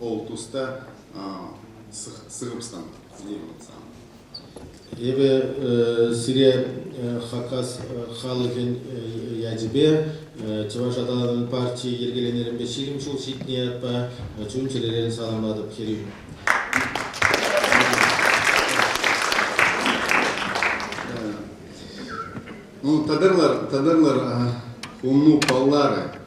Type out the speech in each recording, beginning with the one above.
ол туста сыгӑпсан сан. Эпӗ сире Хакас халӑхӗн ячӗпе Чӑваш аталанӑвӗн партийӗ йӗркеленӗренпе ҫирӗм ҫул ҫитнӗ ятпа чун-чӗререн саламлатӑп, Хӗрӳ. Ну, тӑтӑрлар, тӑтӑрлар, хумну паллары.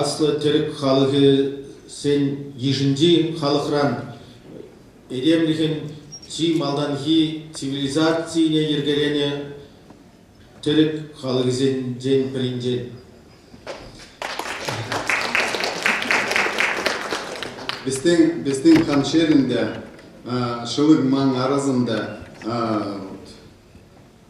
Аслӑ тӗрӗк халӑхӗсен йышӗнчи халӑхран этемлӗхӗн чи малтанхи цивилизацине йӗркеленӗ тӗрӗк халӑхӗсенчен пӗринчен. Безтен, безтен хамшерин те, шылык ман арасында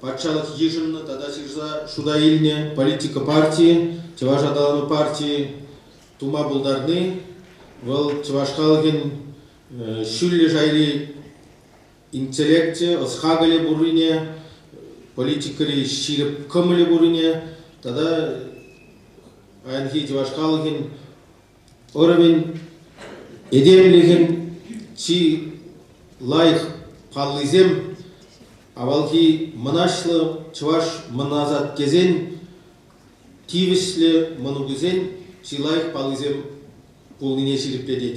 патшалӑх йышӑннӑ тата ҫырса шута илнӗ политика партийӗ, чӑваш аталану партийӗ тума пултарни вӑл чӑваш халӑхӗн ҫӳллӗ шайри интеллекчӗ, ӑс-хакӑлӗ пуррине, политикӑри ҫирӗп кӑмӑлӗ пуррине тата паянхи чӑваш халӑхӗн ӑрӑвӗн этемлӗхӗн чи лайӑх паллисем авалхи мӑнаҫлӑ чӑваш мӑнасат тесен тивӗҫлӗ мӑнукӗсен чи лайӑх паллисем пулнине ҫирӗплетет.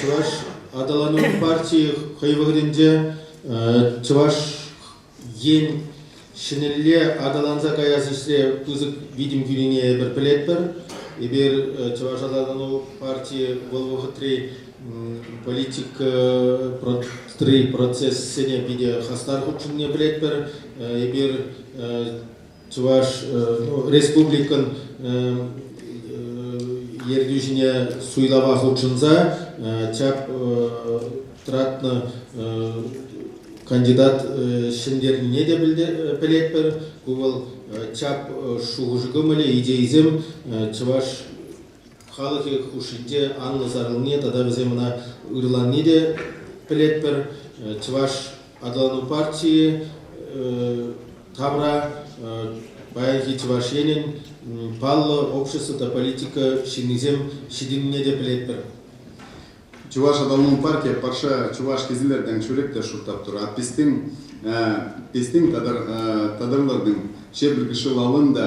Чӑваш аталанӑвӗн партийӗ хӑй вӑхӑтӗнче Чӑваш Ен ҫӗнӗлле аталанса каяс ӗҫре пысӑк витӗм кӳнине эпир пӗлетпӗр. Эпир Чӑваш аталану партийӗ вӑл вӑхӑтри политика процессене питӗ хастар хутшӑннине пӗлетпӗр. Эпир Чӑваш ну, Республикӑн ертӳҫине суйлава хутшӑнса чап тратнӑ кандидат ҫӗнтернине те пӗлетпӗр. Ку вӑл чап шухӑш кӑмӑлӗ, идейисем Чӑваш халӑхӗ хушшинче анлӑ сарӑлни тата вӗсем ӑна ырланни те пӗлетпӗр. Чӑваш аталану партийӗ тавра паянхи Чӑваш Енӗн паллӑ общество та политика ҫыннисем ҫитӗннине те пӗлетпӗр. Чӑваш аталану партийӗ патша чӑваш кесилертен шӳрек те шутлап тӑр. Атпистин пистин татарлӑрдың шепіргіші лалын да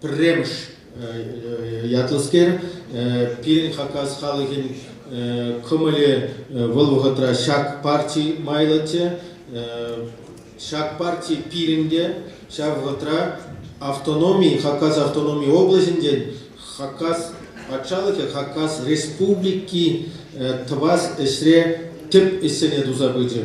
пӗрремӗш ятлӑскер. Пирӗн Хакас халӑхӗн кӑмӑлӗ вӑл вӑхӑтра ҫак парти майлӑччӗ. Ҫак парти пирӗн те ҫав вӑхӑтра автономи, Хакас автономи облаҫӗнчен Хакас патшалӑхӗ, Хакас Республики тӑвас ӗҫре тӗп ӗҫсене туса пычӗ.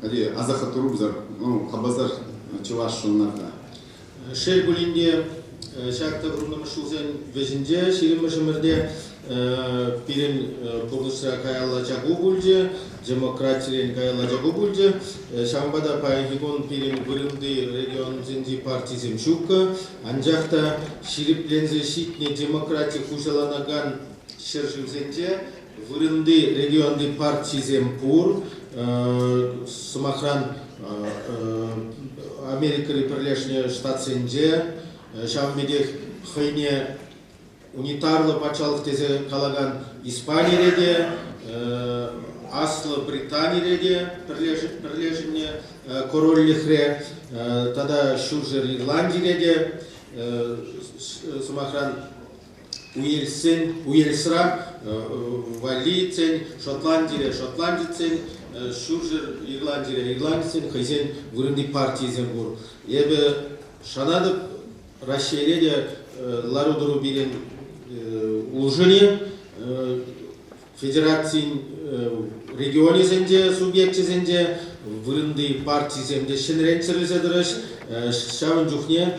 пире асӑрхаттарупсӑр хапӑсӑр чӑваш ӑнланса. Шел пулин те, ҫак тӑхӑрмӗш ҫулсен вӗҫӗнче ҫирӗммӗшӗмӗрте пирӗн пурнӑҫра каялла чаку пулчӗ, демократирен каялла чаку пулчӗ. Ҫавӑнпа та паянхи кун пирӗн вырӑнти регионсенчи партисем ҫуккӑ, анчах та ҫирӗпленсе ҫитнӗ демократи хуҫаланакан ҫӗршывсенче Вырӑнти регионти партисем пур. Сӑмахран, Америкӑри Пӗрлешнӗ Штатсенче, ҫавӑн пекех хӑйне унитарлӑ патшалӑх тесе калакан Испанире те, Аслӑ Британире те пӗрлешӗннӗ корольлӗхре тата Ҫурҫӗр Ирландире те, сӑмахран, уельссен, уельсран валлийцен, шотландире шотландицен, ҫурҫӗр Ирландире ирландецен хӑйсен вырӑнти партийӗсем пур. Эпӗ шанатӑп Раҫҫейре те лару-тӑру пирӗн улшӑнӗ. Федерацин регионӗсенче, субъекчӗсенче вырӑнти партисем те ҫӗнрен чӗрӗлсе тӑрӗҫ. Ҫавӑн чухне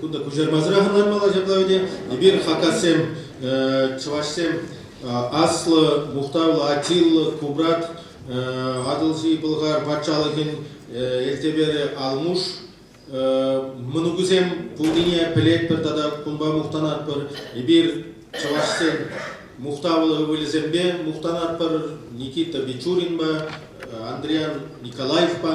Кунта куҫармасӑрах ӑнланмалла ҫапла вӗте. Эпир хакассем, чӑвашсем аслӑ, мухтавлӑ, атиллӑ, кубрат, Атӑлҫи Пӑлхар патшалӑхӗн элтеперӗ Алмуш мӑнукӗсем пулнине пӗлетпӗр тата кунпа мухтанатпӑр. Эпир чӑвашсен мухтавлӑ ывӑлӗсемпе мухтанатпӑр Никита Бичуринпа, Андриан Николаевпа.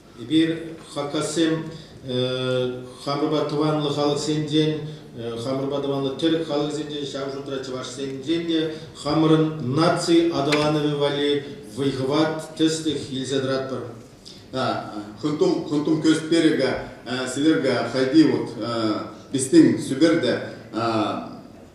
Эпир хакассем хамӑрпа тӑванлӑ халӑхсенчен, хамӑрпа тӑванлӑ тӗрӗк халӑхсенчен, ҫав шутра чӑвашсенчен те хамӑрӑн наци аталанӑвӗ валли вӑй-хӑват, тӗслӗх илсе тӑратпӑр. Хӑтум, хӑтум көсть берега, Северга, хайди вот, пистин, сүберде,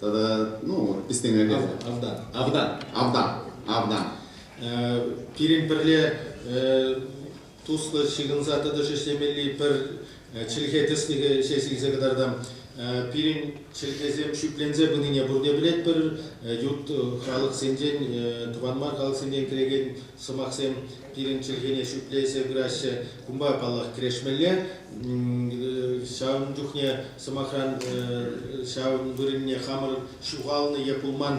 Тата, ну, истеме кайса. Авдан. Авдан. Авдан. Авдан. Пирӗн пӗрле туслӑ ҫыхӑнса тӑтӑш ӗҫлемелли пӗр чӗлхе тӗслӗхӗ ҫеҫ илсе кӑтартам. Пирӗн чӗлхесем шӳтленсе пынине пурне пӗлетпӗр. Ют халӑхсенчен, тӑван мар халӑхсенчен килекен сӑмахсем пирӗн чӗлхене шӳтлесе пыраҫҫӗ. Кунпа, паллах, кӗрешмелле. Ҫавӑн чухне, сӑмахран, ҫавӑн вырӑнне хамӑр ҫухалнӑ е пулман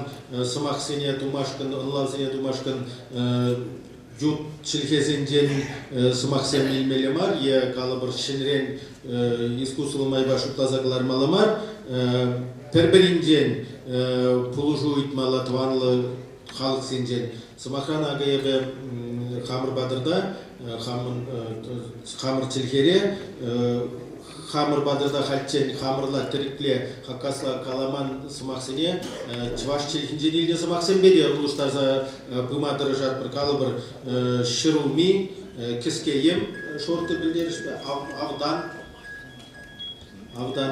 сӑмахсене тумашкӑн, ӑнлавсене тумашкӑн ют чӗлхесенчен сӑмахсем илмелле мар е калӑпӑр ҫӗнӗрен искусство майпа шутласа кӑлармалла мар. Пӗр-пӗринчен пулӑшу ыйтмалла тӑванлӑ халӑхсенчен. Сӑмахран, акӑ эпӗ хамӑр патӑрта, хамӑр чӗлхере хамӑр патӑрта хальччен хамӑрла тӗрекле хакасла каламан сӑмахсене чӑваш чӗлхинчен илнӗ сӑмахсемпе те улӑштарса пыма тӑрӑшатпӑр. Калӑпӑр, ҫӗрулми, кӗскеем шорти пӗлтерӗшпе, автан, автан.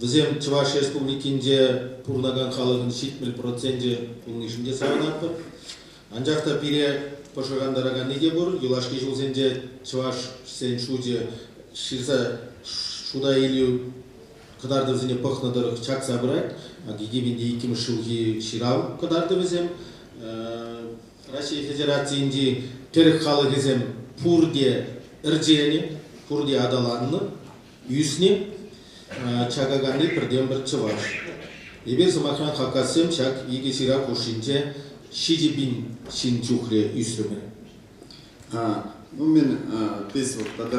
Вӗсем Чӑваш Республикинче пурӑнакан халӑхӑн ҫитмӗл проценчӗ пулнишӗн те савӑнатпӑр. Анчах та пире пӑшӑрхантараканни те пур, юлашки ҫулсенче чӑвашсен шучӗ ҫырса шута илӳ кӑтартӑвӗсене пӑхнӑ тӑрӑх чакса пырать. Иккӗмӗн те иккӗмӗш ҫулхи ҫырав кӑтартӑвӗсем. Раҫҫей Федерацийӗнчи тӗрӗк халӑхӗсем пурте ӗрченӗ, пурте аталаннӑ. Ӳснӗ Чакаканри пӗртен-пӗр чӑваш. Эпир, сӑмахран, хакассем ҫак икӗ ҫырав хушшинче ҫичӗ пин ҫын чухлӗ ӳсрӗмӗр. Ну, мен biz вот тогда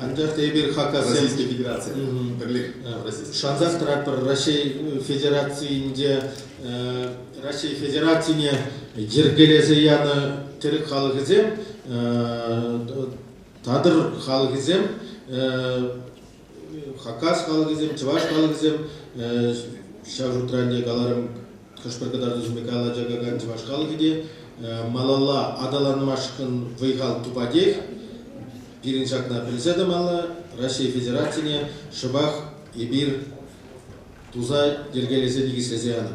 Анчах та эпир хакасем федераци пӗрлех шансах тӑратпӑр Раҫҫей Федерацийӗнче Раҫҫей Федерацине йӗркелесе янӑ тӗрек халӑхӗсем татӑр халӑхӗсем хакас халӑхӗсем чӑваш халӑхӗсем ҫав шутра ӗнтӗ каларӑм хӑш-пӗр кӑтартусемпе калаҫакан чӑваш халӑхӗ те малалла аталанмашкӑн вӑй-хал тупатех. Пирӗн ҫакна пӗлсе тӑмалла, Раҫҫей Федерацине шӑпах эпир туса йӗркелесе никӗслесе янӑ.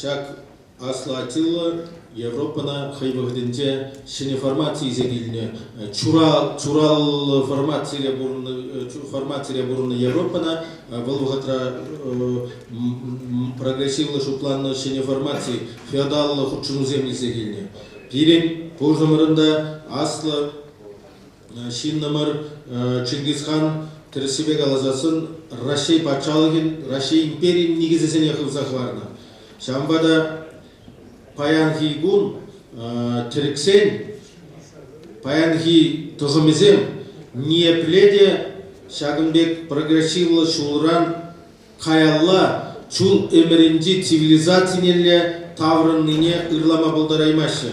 Ҫак аслӑ Аттила Европӑна хӑй вӑхӑтӗнче ҫӗнӗ формаци илсе килнӗ. Чураллӑ формацире пурӑннӑ формацире пурӑннӑ Европӑна вӑл вӑхӑтра прогрессивлӑ шутланнӑ ҫӗнӗ формаци, феодаллӑ хутшӑнусем илсе килнӗ. Пирӗн пушӑмӑрӑн та аслӑ Ҫыннӑмӑр Чингисхан тӗрӗссипе каласан Раҫҫей патшалӑхӗн, Раҫҫей империйӗн никӗсӗсене хывса хӑварнӑ. Ҫавӑнпа та паянхи кун тӗрӗксен паянхи тӑхӑмӗсем ниепле те ҫакӑн пек прогрессивлӑ ҫулран каялла чул ӗмӗрӗнчи цивилизацинелле таврӑннине ырлама пултараймаҫҫӗ.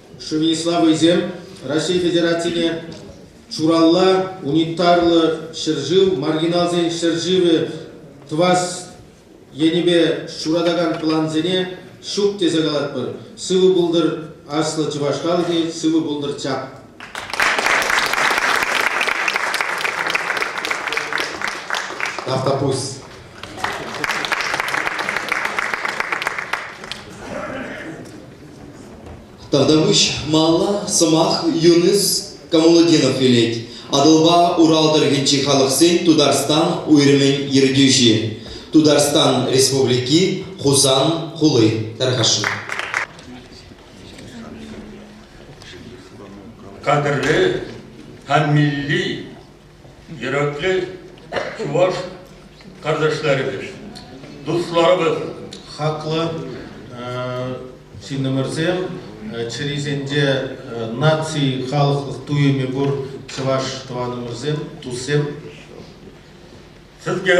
Шывне слабӑйсем Раҫҫей Федерацине Чуралла унитарлӑ ҫӗршыв маргиналсен ҫӗршывӗ тӑвас енӗпе ҫуратакан плансене ҫук тесе калатпӑр. Сывӑ пултӑр аслӑ чӑваш халӑхӗ, сывӑ пултӑр чап! Автопусть. Тавтапуҫ малалла сӑмах Юныс Камалутдинов илет. Атӑлпа Урал тӑрӑхӗнчи халӑхсен Тутарстан уйрӑмӗн ертӳҫи, Тутарстан Республики Хусан хули тархашу. Кадрлы һәм милли йөрәклӗ чӑваш карташларӗбез, дусларыбыз. Хаклӑ ҫыннӑмӑрсем, чӗрисенче наци, халӑхлӑх туйӑмӗ пур чӑваш тӑванӑмӑрсем, туссем. Сезге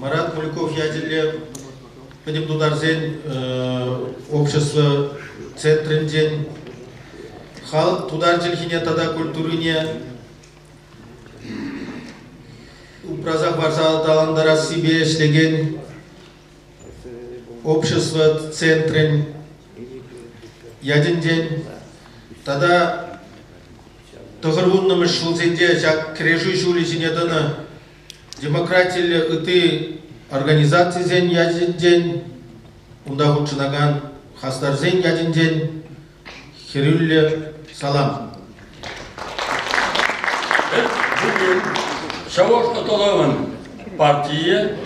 Марат Кульков ячӗллӗ пӗтӗм тутарсен общество центрӗнчен халӑх тутар чӗлхине тата культурине упраса парса аталантарассипе ӗҫлекен общество центрӗн ятӗнчен тата тӑхӑр вуннӑмӗш ҫулсенче ҫак кӗрешӳ ҫулӗ ҫине тӑнӑ демократиллӗ ытти организацисен ячӗсенчен, унта хутшӑнакан хастарсен ячӗнчен хӗрӳллӗ салам. Бүгін Шауаш Аталавын партия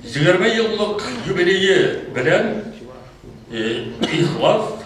20 еллық юбилейі белән Ихлас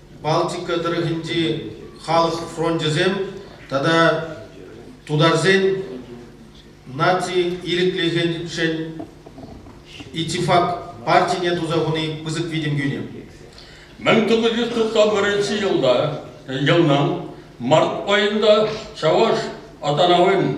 Балтика тӑрӑхӗнчи халӑх фрончӗсем тата тутарсен наци ирӗклӗхӗшӗн «Итифак» партине туса хуни пысӑк витӗм кӳнӗ. 1991 елда, елнан март айында Чаваш Атанавин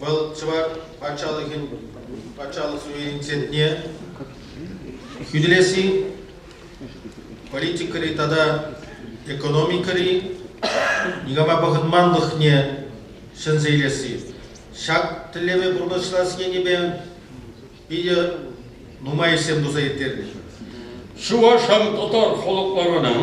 Вӑл чӑваш патшалӑхӗн патшалӑх суверенитетне хӳтӗлесси, политикӑри тата экономикӑри никама пӑхӑнманлӑхне ҫӗнсе илесси. Ҫак тӗллеве пурнӑҫлас енӗпе питӗ нумай ӗҫсем туса ирттернӗ. Чувашам татар халӑхларынан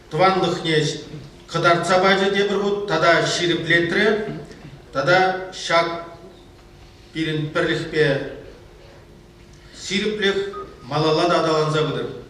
тӑванлӑхне кӑтартса пачӗ тепӗр хут тата ҫирӗплетрӗ. Тата ҫак пирӗн пӗрлӗхпе ҫирӗплӗх малалла та аталанса пытӑр.